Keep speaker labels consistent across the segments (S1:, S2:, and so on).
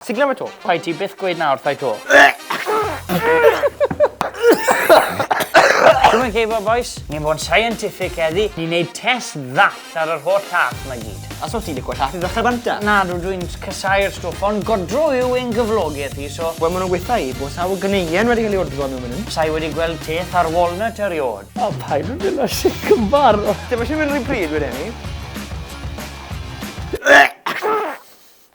S1: Ti'n glywed to? Rhaid ti byth gweud na
S2: wrthai to. Dwi'n mynd geifo, boys. Ni'n bod yn scientific eddi. Ni'n neud test ddall ar yr holl llath yma gyd. A so ti'n licio llath i ddechrau
S1: banta? Na, dwi dwi'n
S2: casau'r stwff, ond godro yw ein gyflogaeth i, so... Wel, maen nhw'n gweithio i bod
S1: sawl gyneuen wedi cael ei odro mewn mynd. Sa'i wedi gweld teth
S2: ar walnut eriod. O, paid yn mynd o
S1: sic yn bar. Dim eisiau mynd rhy pryd wedyn ni.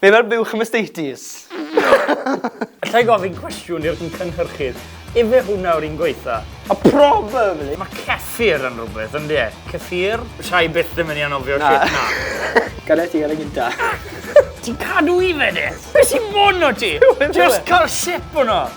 S1: Be mae'r buwch am estates?
S2: Alla i gofyn cwestiwn i'r cynhyrchydd? Ife hwnna yw'r un gwaetha? A probably!
S1: Mae ceffyr
S2: yn rhywbeth, ynddi e? Ceffyr? Sa i byth yn mynd i anofio shit 'na. Gada ti ar y gynta.
S1: Ti'n
S2: cadw i fe de? Be sy'n bod 'no ti? Just cael sip o 'na!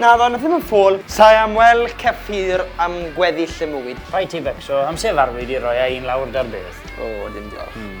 S2: Naddo, na ddim yn ffôl.
S1: Sai am wel Kefir am gweddill
S2: y mwyd.
S1: Rhaid ti
S2: fecso am sef
S1: arfwyd
S2: i roi
S1: a
S2: un lawr dar beth. O, dim
S1: diolch.
S2: Hmm.